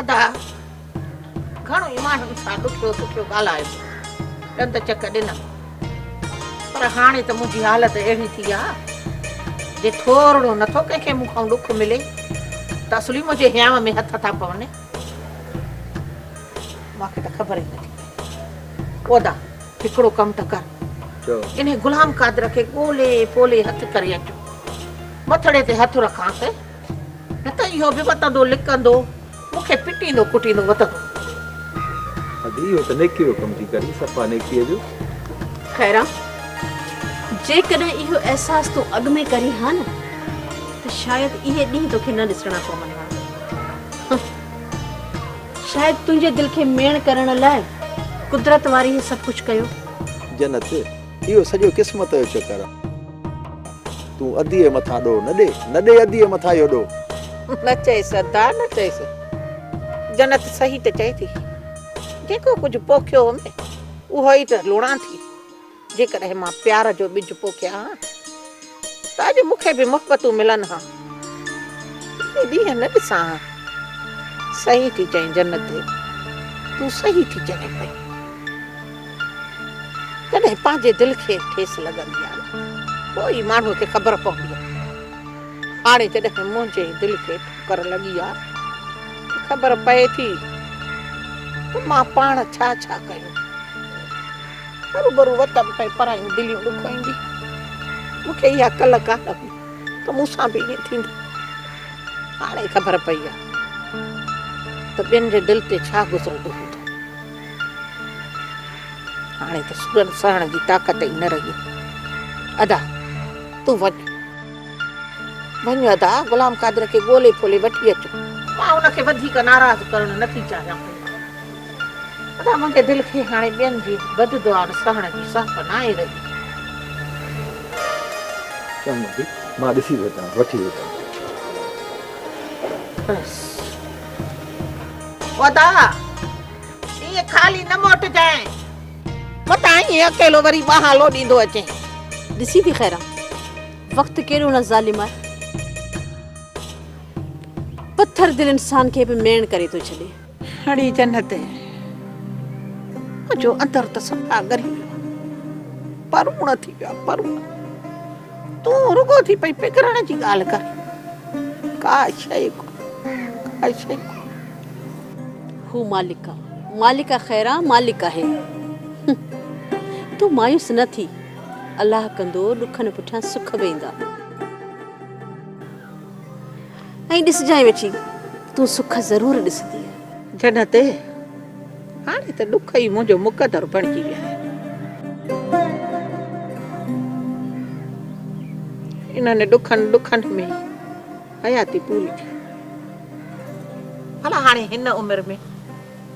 ادا گهڻو ئي ماڻهن سان ڏکيو سکيو ڳالهايو ڏند چڪ ڏنم پر هاڻي ته منهنجي حالت اهڙي ٿي آ جي ٿورڙو نٿو ڪنهن کي مون کان ڏک ملي ته اصلي منهنجي هيام ۾ هٿ ٿا پون مونکي ته خبر ئي نٿي پودا هڪڙو ڪم ته ڪر، انهي غلام قادر کي ڳولي پولي هٿ ڪري اچو. مٿڙي تي هٿ رکانس، نه ته اهو به وتندو لڪندو، مون کي پٽيندو ڪٽيندو وتندو. حاجي اهو ته نيڪيء جو ڪم ٿي ڪرين، صفا نيڪيء جو. خيران، جيڪڏهن اهو احساس تون اڳ ۾ ڪرين ها نه، ته شايد اهي ڏينهن توکي نه ڏسڻا پون ها. شايد تنهنجي دل کي ميڻ ڪرڻ لاء قدرت واري هي سڀ ڪجهه ڪيو. جنت، اهو سڄو قسمت جو چڪر آ. تون اديء مٿان ڏوهه نه ڏي، نه ڏي اديء مٿان اهو ڏوهه. نه چئيس ادا، نه چئيس. جنت صحيح ته چئي ٿي. جيڪو ڪجهه پوکيو هومي، اهو ئي ته لوڙان ٿي. جيڪڏهن مان پيار جو ٻج پوکيان ها ته اڄ مون کي به محبتون ملن ها. اهي ڏينهن نه ڏسان ها. صحيح ٿي چئين جنت، تون صحيح ٿي چوين پئي. جڏهن پنهنجي دل کي ٺيس لڳندي آهي پوء ئي ماڻهوء کي خبر پوندي آهي. هاڻي جڏهن منهنجي دل کي ٺڪر لڳي آهي ته خبر پئي ٿي ته مان پاڻ ڇا ڇا ڪيو. هروڀرو وطن پئي پرايون دليون ڏکوئيندي. مون کي اها ڪل ڪاهه هئي ته مون سان به ائين ٿيندو. هاڻي خبر پئي آهي ته ٻين جي دل تي ڇا گذرندو هوندو. هاڻي ته سورن سهڻ جي طاقت ئي نه رهي. ادا تون وڃ. وڃ ادا غلام قادر کي ڳولي ڦولي وٺي اچ. مان ان کي وڌيڪ ناراض ڪرڻ نه ٿي چاهيان پئي. ادا مون جي دل کي هاڻي ٻين جي بد دعائن سهڻ جي سهپ ناهي رهي. چڱو ڀي مان ڏسي ٿو اچان وٺي اچان. بس ادا ائين خالي نه موٽجانء. متان ائين اڪيلو وري ٻانهان لوڏيندو اچين. ڏسي ٿي خيران وقت ڪيڏو نه ظالم آهي. پٿر دل انسان کي به ميڻ ڪري ٿو ڇڏي. اھڙي جنت ۾ منھنجو اندر ته صفا ڳري ويو آھي. پروڙ ٿي ويو آھي پروڙ. تون رڳو ٿي پئي پگھرڻ جي ڳالھه ڪرين. ڪا شيء ڪونھي ڪا شيء ڪونھي. ھو مالڪ آ مالڪ آ خيرا مالڪ آھي. تون مايوس نه ٿي الله ڪندو ڏکن پٺيان سک به ايندا. ائين ڏسجانء ويٺي، تون سک ضرور ڏسندينء. جنت، هاڻي ته ڏک ئي منهنجو مقدر بڻجي ويا آهن. انهن ڏکن ڏکن ۾ ئي حياتي پوري ٿي. ڀلا هاڻي هن عمر ۾.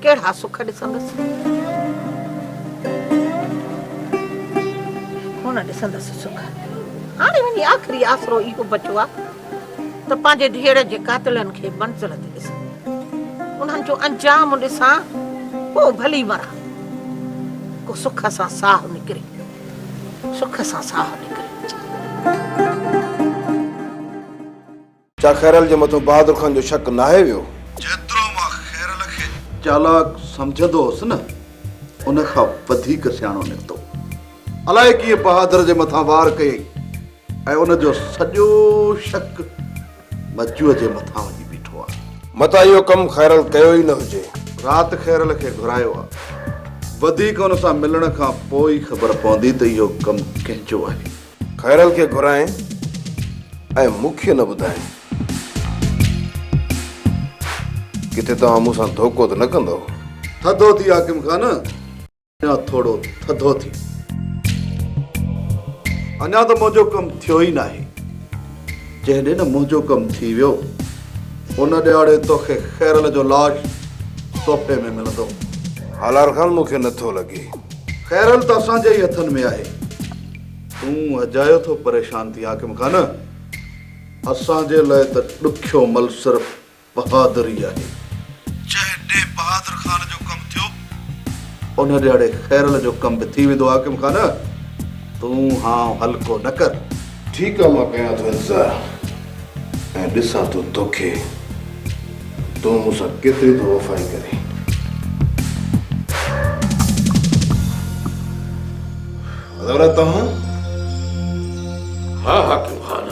ڪهڙا سک ڏسندس؟ ڪونه ڏسندس سک. هاڻي وڃي آخري آسرو اهو بچو آهي ته پنهنجي ڌيئڙ جي قاتلن کي منزل تي ڏسان. انهن جو انجام ڏسان، پوء ڀلي مران. ڪو سک سان ساهه نڪري. سک سان ساهه نڪري. ڇا خيرل جي مٿو بهادر خان جو شڪ ناهي ويو؟ جيترو مان خيرل کي چالاڪ سمجهندو هوس نه ان کان وڌيڪ سياڻو نڪتو. الائي ڪيئن بهادر جي مٿان وار ڪيئي ۽ ان جو سڄو شڪ مجوء جي مٿان وڃي بيٺو آهي. متان اهو ڪم خيرل ڪيو ئي نه هجي. رات خيرل کي گهرايو آهي. وڌيڪ ان سان ملڻ کان پوء ئي خبر پوندي ته اهو ڪم ڪنهن جو آهي. خيرل کي گهرائين ۽ مون کي نه ٻڌائين. ڪٿي توهان مون سان ڌوڪو ته نه ڪندؤ. ٿڌو ٿي حاڪم خان، اڃا ٿورو ٿڌو ٿي. اڃا ته منهنجو ڪم ٿيو ئي ناهي. جنهن ڏينهن منهنجو ڪم ٿي ويو، ان ڏهاڙي توکي خيرل جو لاش تحفي ۾ ملندو. هالار خان مون کي نه ٿو لڳي. خيرل ته اسان جي ئي هٿن ۾ آهي. تون اجايو ٿو پريشان ٿين حاڪم خان. اسان جي لاء ته ڏکيو مل صرف بهادري آهي. جنهن ڏينهن بهادر خان جو ڪم ٿيو ان ڏهاڙي خيرل جو ڪم به ٿي ويندو حاڪم خان. تون هانء هلڪو نه ڪر. ٺيڪ آ مان ڪيان ٿو انتظار. ۽ ڏسان ٿو توکي تون مون سان ڪيتري ٿو وفائي ڪرين. حضرت توهان ها حاڪم خان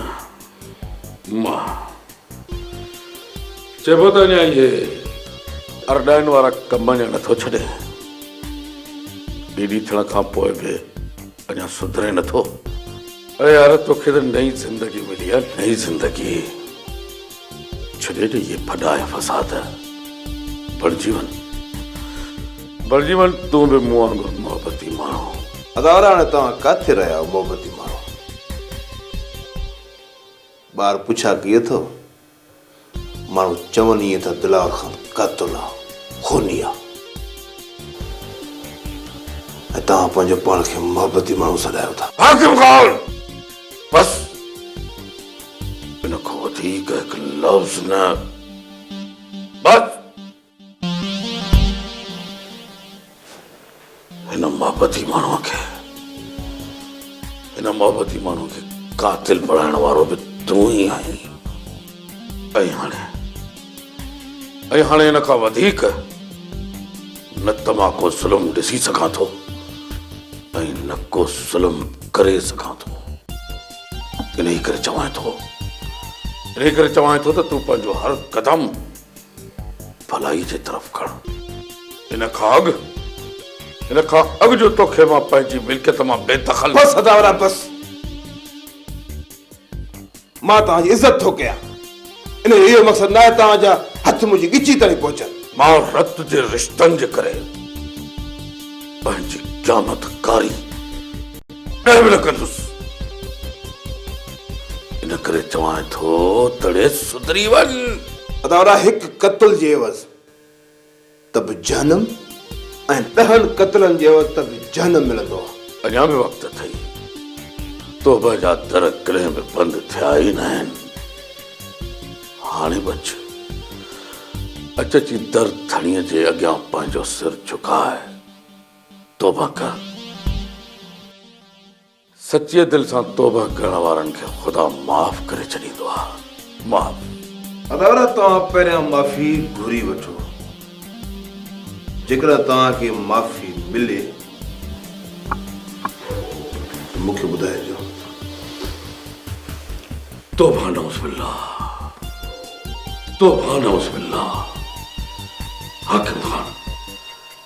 مان چئبو ته اڃا اهي ارڏائن وارا ڪم اڃا نٿو ڇڏين ڏيڏي ٿيڻ کان پوء به اڃا سڌرين نٿو؟ اڙي يار توکي ته نئين زندگي ملي آ نئين زندگي ڇڏي ڏي اهي ڦڏا ۽ فساد بڻجي وڃ بڻجي وڃ تون به مون وانگر محبتي ماڻهو. اداوار هاڻي توهان ڪاٿي رهيا آهيو محبتي ماڻهو؟ ٻار پڇا ڪئي اٿئو ماڻهو چون ائين ٿا دلار خان قاتل آ خوني آ ۽ توهان پنهنجو پاڻ کي محبتي ماڻهو سڏايو ٿا. حاڪم خان! بس! ان کان وڌيڪ هڪ لفظ نه! بس! هن محبتي ماڻهوء کي هن محبتي ماڻهوء کي قاتل بڻائڻ وارو به تون ئي آهين ۽ هاڻي ۽ هاڻي هن کان وڌيڪ نه ته مان ڪو ظلم ڏسي سگهان ٿو ۽ نه ڪو ظلم ڪري سگهان ٿو انهي ڪري چوان ٿو انهي ڪري چوان ٿو ته تون پنهنجو هر قدم ڀلائي جي طرف کڻ. ان کان اڳ، ان کان اڳ جو توکي مان پنهنجي ملڪيت مان بي دخل. بس اداورا بس. مان توهان جي عزت ٿو ڪيان. ان جو اهو مقصد ناهي توهان جا هٿ منهنجي ڳچي تائين پهچن. مان رت جي رشتن جي ڪري پنهنجي قيامت ڪاري. ڪڏهن به نه ڪندس. ان ڪري چوانء ٿو تڙي سڌري وڃ. ادا ادا هڪ قتل جي عيوض ته به جهنم ۽ ڏهن قتلن جي عيوض ته به جهنم ملندو آ. اڃا به وقت اٿئي. توبه جا در ڪڏهن به بند ٿيا ئي ناهن. هاڻي به اچ. اچ اچي در ڌڻيء جي اڳيان پنهنجو سر جهڪاء. توبه ڪر. سچيء دل سان توبه ڪرڻ وارن کي خدا معاف ڪري ڇڏيندو آهي. معاف. اداره توهان پهريان معافي گهري وٺو. جيڪڏهن توهان کي معافي ملي ته مون کي ٻڌائجو. توبه نعوذ بالله. توبه نعوذ بالله. حاڪم خان.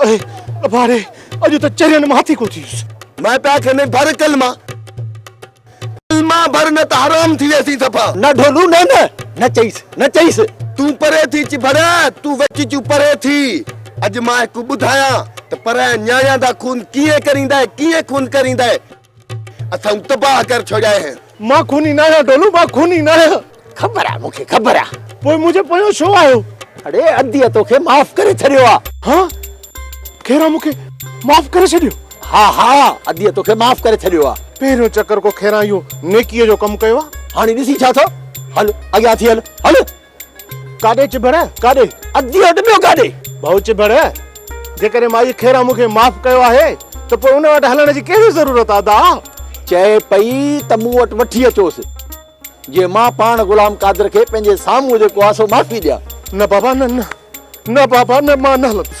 اڙي ابا ري اڄ ته چرين مان هٿي ڪو ٿيس. مائٽا کي نه ڀر ڪلما ڪلما ڀر نه ته حرام ٿي ويسين صفا. نه ڍولو نه نه نه چئيس نه چئيس. تون پري ٿي چي ڀر تون وچ چون پري ٿي اڄ مان هڪ ٻڌايان ته پرايان نياڻيان دا خون ڪيئن ڪريندائي ڪيئن خون ڪريندائي. اٿن تباهه ڪر ڇڏيائي هي. مان خوني ناهيان ڍولو مان خوني ناهيان. خبر آهي مون کي خبر آهي. پوء منهنجي پويان ڇو آهيو. اڙي اديء تو کي معاف ڪري ڇڏيو آهي. ها خيران مون کي معاف ڪري ڇڏيو. ها ها اديء تو کي معاف ڪري ڇڏيو آهي. پهريون چڪر ڪو خيران اهو نيڪيء جو ڪم ڪيو آهي. هاڻي ڏسين ڇا ٿو هل اڳيان ٿي هل هل. ڪاڏي چڀڙ ڪاڏي ادي اڌ ٻيو ڪاڏي ڀائو چڀڙ جيڪڏهن مائي خيرا مون کي معاف ڪيو آهي ته پوء ان وٽ هلڻ جي ڪهڙي ضرورت آ دا چئي پئي ته مون وٽ وٺي اچوس جي مان پاڻ غلام قادر کي پنهنجي سامهون جيڪو آ سو معافي ڏيان. نه بابا نه نه نه بابا نه مان نه هلندس.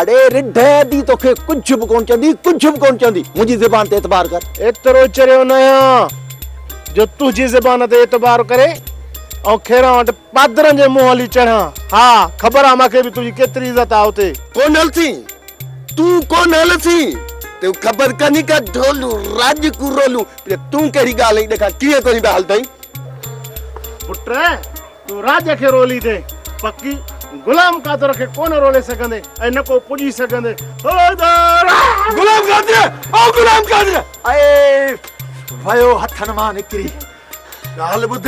اڙي رڍ ادي توکي ڪجھ به ڪون چوندي ڪجھ به ڪون چوندي منهنجي زبان تي اعتبار ڪر. ايترو چريو ناهيان جو تنهنجي زبان تي اعتبار ڪري ۽ کيران وٽ پادرن جي منهن هلي چڙهان ها خبر آ ماکي به تنهنجي ڪيتري عزت آ اتي. ڪون هلسين تون ڪون هلسين تون خبر ڪانهي ڪا ڍولون راڄ ڪو رولون پري تون ڪهڙي ڳالهه ايڏي کان ڪيئن ڪوهين به هلدئين پٽ. تون راڄ کي رولي ڏي پڪي، غلام قادر کي ڪونه رولي سگهندي ۽ نه ڪو پڄي سگهندي. حيدر! غلام قادر! او غلام قادر! اي ويو هٿن مان نڪري. ڳالهه ٻڌ،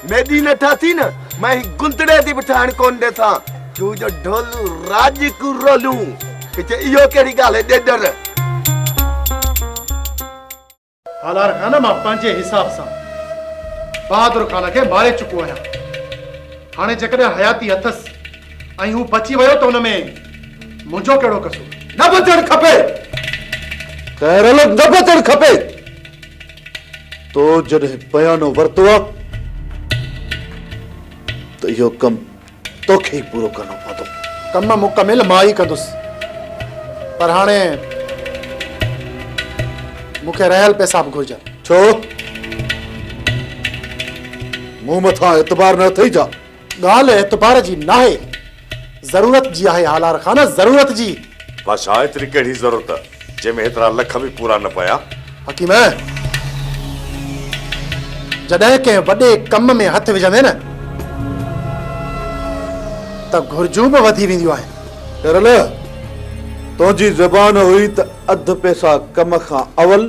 ميڏي نه ٺاٿي نه، مان هي گندڙي تي به ٺهڻ ڪونه ڏيٿان، تون جو ڍولو راڄ ڪيون روليون، هتي اهو ڪهڙي ڳالهه هي ڏيڏر! سالار خان مان پنهنجي حساب سان بهادر خان کي ماري چڪو آهيان. هاڻي جيڪڏهن حياتي اٿس ۽ هو بچي ويو ته ان ۾ منهنجو ڪهڙو قصور؟ نه بچڻ کپي! خيرل نه بچڻ کپي! تو جڏهن بيانو ورتو آهي ته اهو ڪم توکي ئي پورو ڪرڻو پوندو. ڪم مڪمل مان ئي ڪندس پر هاڻي مون کي رهيل پئسا به گهرجن. ڇو؟ مون مٿان اعتبار نه اٿئي ڇا؟ ڳالهه اعتبار جي ناهي. ضرورت جي آهي هالار خان، ضرورت جي. ڀاشا، ايتري ڪهڙي ضرورت؟ جنهن ۾ هيترا لک به پورا نه پيا. حڪيم! جڏهن ڪنهن وڏي ڪم ۾ هٿ وجهندين نه ته گهرجون به وڌي وينديون آهن. شيرالله! تنهنجي زبان هئي ته اڌ پئسا ڪم کان اول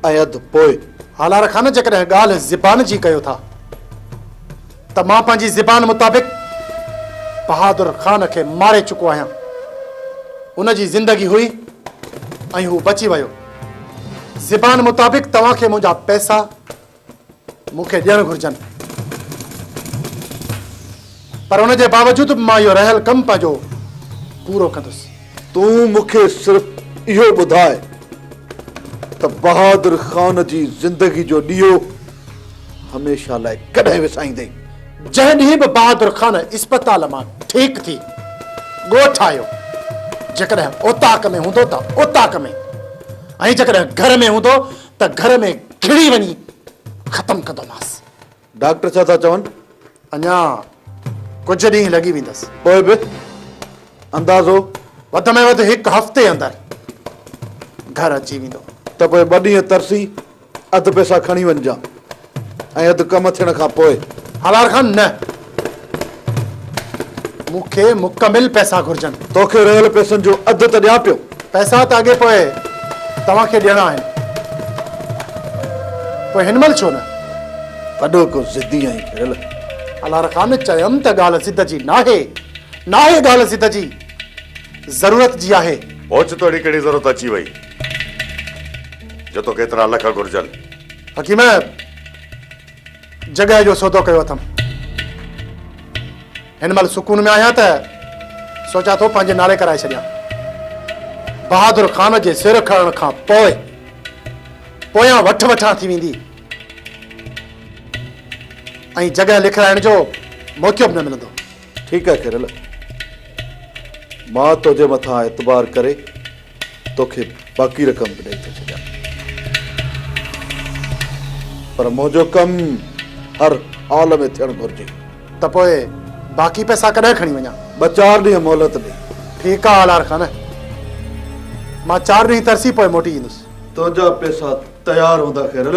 ۽ اڌ پوء. هالار خان جيڪڏهن ڳالهه زبان جي ڪيو ٿا ته مان پنهنجي زبان مطابق بهادر خان کي ماري چڪو آهيان. ان جي زندگي هئي ۽ هو بچي ويو. زبان مطابق توهان کي منهنجا پئسا مون کي ڏيڻ گهرجن پر ان جي باوجود به مان اهو رهيل ڪم پنهنجو پورو ڪندس تون مون کي صرف اهو ٻڌاء ته بهادر خان جي زندگي جو ڏيئو هميشه لاء ڪڏهن وسائيندين؟ جنهن ڏينهن به بهادر خان اسپتال مان ٺيڪ ٿي ڳوٺ آيو جيڪڏهن اوطاق ۾ هوندو ته اوطاق ۾ ۽ جيڪڏهن گهر ۾ هوندو ته گهر ۾ کڻي وڃي ختم ڪندومانس. ڊاڪٽر ڇا ٿا چون؟ اڃا ڪجهه ڏينهن لڳي ويندس. پوء به اندازو؟ وڌ ۾ وڌ هڪ هفتي اندر گهر اچي ويندو. ته پوء ٻه ڏينهن ترسي اڌ پئسا کڻي وڃجان. ۽ اڌ ڪم ٿيڻ کان پوء. هالار خان، نه. مون کي مڪمل پئسا گهرجن. تو کي رهيل پئسن جو اڌ ته ڏيان پيو. پئسا ته اڳي پوء توهان کي ڏيڻا آهن. پوء هن مهل ڇو نه؟ وڏو ڪو ضدي آهين ڪريل. هالار خان، چيم ته ڳالهه ضد جي ناهي. ناهي ڳالهه ضد جي. ضرورت جي آهي. اوچتو اهڙي ڪهڙي ضرورت اچي وئي؟ جو توکي ايترا لک گهرجن. حڪيم، جڳهه جو سودو ڪيو اٿم. هن مهل سڪون ۾ آهيان ته سوچان ٿو پنهنجي نالي ڪرائي ڇڏيان. بهادر خان جي سر کڻڻ کان پوء پويان وٺ وٺان ٿي ويندي ۽ جڳهه لکرائڻ جو موقعو به نه ملندو. ٺيڪ آهي خيرل، مان تنهنجي مٿان اعتبار ڪري توکي باقي رقم به ڏئي ٿو ڇڏيان پر منهنجو ڪم هر حال ۾ ٿيڻ گهرجي. ته پوء باقي پئسا ڪڏهن کڻي وڃان؟ ٻه چار ڏينهن مهلت ڏي. ٺيڪ آ آلار خان. مان چار ڏينهن ترسي پوء موٽي ايندس. تنهنجا پئسا تيار هوندا خيرل.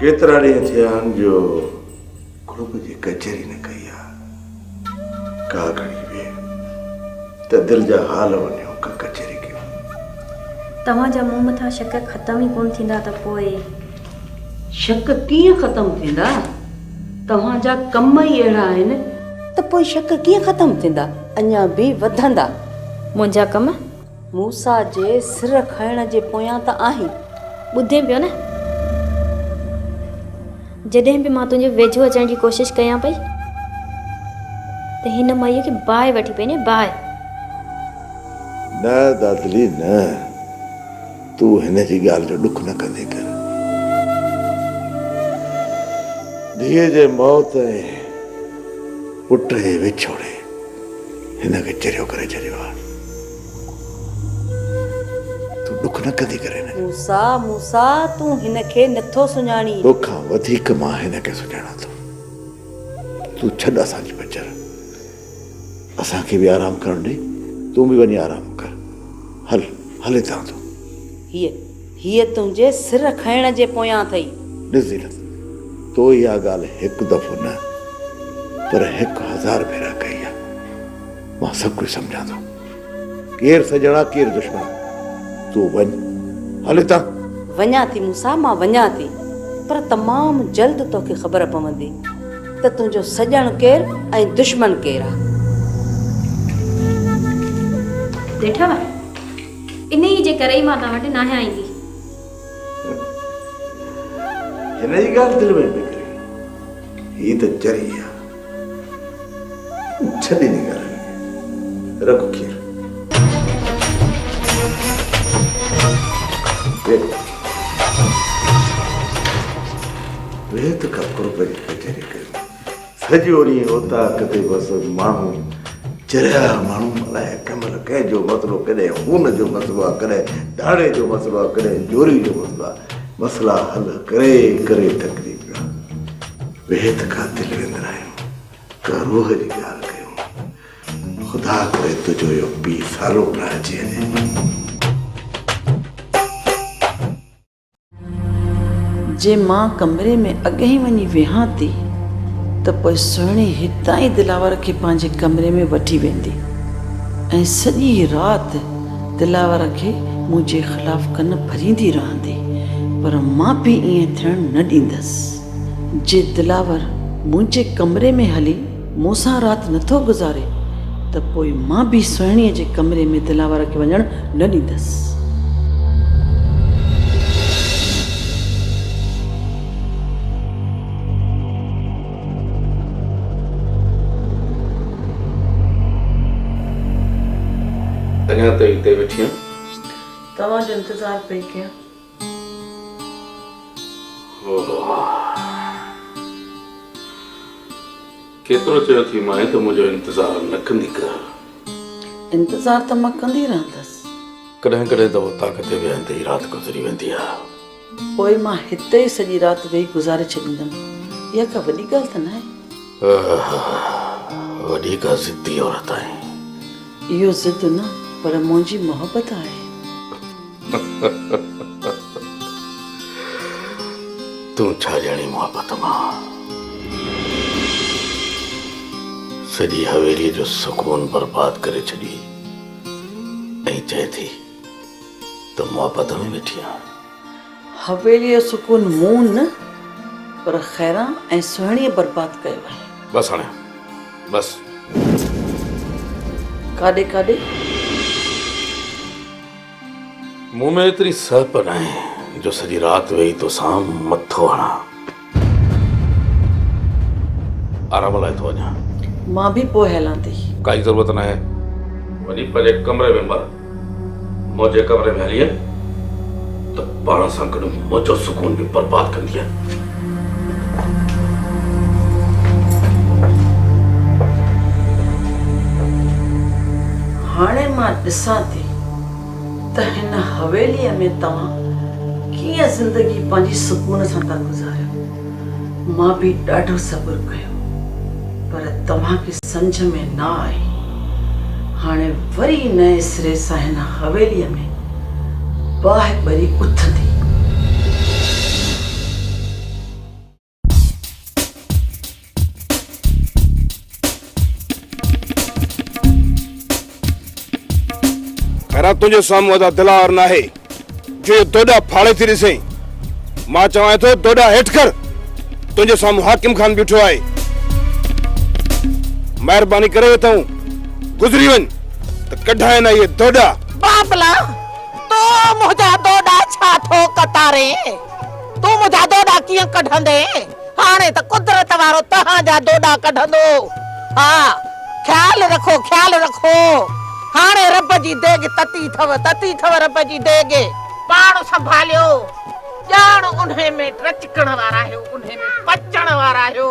ڪيترا ڏينهن ٿيا آهن جو قرب جي ڪچهري نه ڪئي آ. ڪا گهڙي ويهه ته دل جا حال وڃيو ڪا ڪچهري ڪيون. توهان جا مون مٿان شڪ ختم ئي ڪونه ٿيندا ته پوء. شڪ ڪيئن ختم ٿيندا؟ توهان جا ڪم ئي اهڙا آهن ته پوء شڪ ڪيئن ختم ٿيندا؟ اڃا به وڌندا. منهنجا ڪم. موسيٰ جي سر کڻڻ جي پويان ته آهين. ٻڌين پيو نه! جڏهن به مان تنهنجي ويجهو اچڻ جي ڪوشش ڪيان پئي ته هن مئيء کي باهه وٺي پئي ڏئين، باهه! نه دادلي نه! تون هن جي ڳالهه جو ڏک نه ڪندي ڪر. ڌيء جي موت ۽ پٽ جي وڇوڙي هن کي چريو ڪري ڇڏيو آهي. تون ڏک نه ڪندي ڪري هن کي. موسيٰ، موسيٰ، تون هن کي نه ٿو سڃاڻين. تو کان وڌيڪ مان هن کي سڃاڻان ٿو. تون ڇڏ اسان جي پچر. اسان کي به آرام ڪرڻ ڏي. تون به وڃي آرام ڪر. هل، هل هتان تون. هيء، هيء تنهنجي سر کنئڻ جي پويان اٿئي. ڏس زينت، تو اها ڳالهه هڪ دفعو نه پر هڪ هزار ڀيرا ڪئي آهي. مان سڀ ڪجهه سمجهان ٿو. ڪير سڄڻ آ ڪير دشمن. تون وڃ. هل هتان. وڃان ٿي موسيٰ مان وڃان ٿي پر تمام جلد توکي خبر پوندي ته تنهنجو سڄڻ ڪير ۽ دشمن ڪير آ. ڏٺو ها انهيء جي ڪري ئي مان توهان وٽ ناهيان ايندي. هن جي ڳالهه دل ۾ پئي ڪري. هي ته چري آ. ڇڏ انهي ڳالهه کي رک کير. ويهه ته ڪا قرب جي ڪچهري ڪريون. سڄو ڏينهن اوطاق تي بس ماڻهو چريا ماڻهو الائي ڪمل ڪنهن جو مسئلو ڪڏهن خون جو مسئلو آ ڪڏهن ڌاڙي جو مسئلو آ ڪڏهن جوري جو مسئلو آ مسئلا حل ڪري ڪري ٿڪجي پيو آ. بيحد قاتل ويندر آهيون ڪا روح جي ڳالهه ڪيون خدا ڪري تنهنجو اهو پيء سالو پراهجي اچي. جي مان ڪمري ۾ اڳهين وڃي ويهان ٿي ته پوء سهڻي هتان ئي دلاور کي پنهنجي ڪمري ۾ وٺي ويندي ۽ سڄي رات دلاور کي منهنجي خلاف ڪن ڀريندي رهندي پر مان پي ائين ٿيڻ نه ڏيندس. جي دلاور منهنجي ڪمري ۾ هلي مون سان رات نه ٿو گذاري ته پوء مان به سهڻيء جي ڪمري ۾ دلاور کي وڃڻ نه ڏيندس. اڃا تائين اتي ويٺي آهيان. توهان جو انتظار پئي ڪيان. ڪيترو چيو ٿي مانء ته منهنجو انتظار نه ڪندي ڪر. انتظار ته مان ڪندي رهندس. ڪڏهن ڪڏهن ته اوطاق تي ويهندي ئي رات گذري ويندي آ. پوء مان هتي ئي سڄي رات ويهي گذاري ڇڏيندم. اها ڪا وڏي ڳالهه ته ناهي. اها وڏي ڪا ضدي عورت آهين. اهو ضد نه پر منهنجي محبت آهي. تون ڇا ڄاڻين محبت مان سڄي حويلي جو سڪون برباد ڪري ڇڏي ۽ چئي ٿي ته محبت ۾ ويٺي آهيان. حويلي جو سڪون مون نه پر خيران ۽ سهڻيء برباد ڪيو آهي. بس هاڻي بس. ڪاڏي ڪاڏي؟ مون ۾ ايتري سهپ ناهي جو سڄي رات ويهي توسان مٿو هڻان. آرام لاء ٿو وڃان. مان به پوء هلان ٿي. ڪائي ضرورت ناهي. وڃي پنهنجي ڪمري ۾ مر. منهنجي ڪمري ۾ هلين ته پاڻ سان گڏ منهنجو سڪون به برباد ڪندين. هاڻي مان ڏسان ٿي. ته هن حويليء ۾ توهان ڪيئن زندگي پنهنجي سڪون سان ٿا گذاريو؟ مان به ڏاڍو صبر ڪيو، پر توهان کي سمجهه ۾ نه آئي. هاڻي وري نئين سري سان هن حويليء ۾ باهه ٻري اٿندي. خيرا تنهنجي سامهون ادا دلار ناهي جو اهو دوڏا ڦاڙي ٿي ڏسين مان چوان ٿو دوڏا هيٺ ڪر تنهنجي سامهون حاڪم خان بيٺو آهي مهرباني ڪري اٿو گذري وڃ ته ڪڍائي نه اهي دوڏا بابلا تو منهنجا دوڏا ڇا ٿو ڪتارين تون منهنجا دوڏا ڪيئن ڪڍندين؟ هاڻي ته قدرت وارو توهان جا دوڏا ڪڍندو. ها، خيال رکو، خيال رکو. هاڻي رب جي ديڳ تتي ٿو، تتي ٿو رب جي ديڳ. پاڻ سنڀاليو، ڄاڻ انهي ۾ ٽچڪڻ وارا آهيو، انهي ۾ پچڻ وارا آهيو.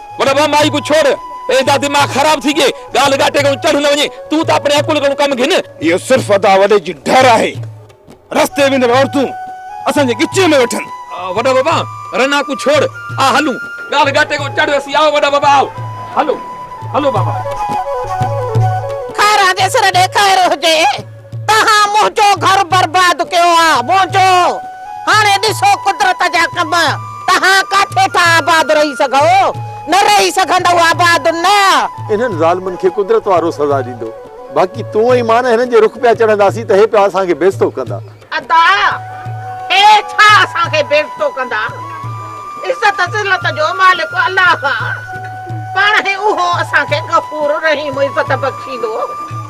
وڏا ڀاء مائي ڪو ڇوڙ. ايدا دماغ خراب ٿي گئي. ڳالهه ڳاٽي ڪنو چڙهه نه وڃي. تون ته اپڻي عقل ڪنو ڪم گهن. اهو صرف ادا وڏي جي ڍر آهي. رستي ويندڙ عورتون اسان جي ڳچيء ۾ ويٺن. وڏا بابا رنا ڪو ڇوڙ. آء هلون. ڳالهه ڳاٽي ڪنو چڙهه اسين آء وڏا بابا آء. هلو هلو بابا. خير آندي سر ڏيکائر هجي. توهان منهنجو گهر برباد ڪيو آ منهنجو هاڻي ڏسو قدرت جا ڪم توهان ڪاٿي ٿا آباد رهي سگهو نه رهي سگهندؤ آباد نه. انهن ظالمن کي قدرت وارو سزا ڏيندو باقي تون ۽ مان هنن جي رخ پيا چڙهنداسين ته هي پيا اسان کي بيزتو ڪندا. ادا هي ڇا اسان کي بيزتو ڪندا عزت ذلت جو مالڪ الله آ پاڻهي اهو اسان کي غفور رحيم عزت بخشيندو.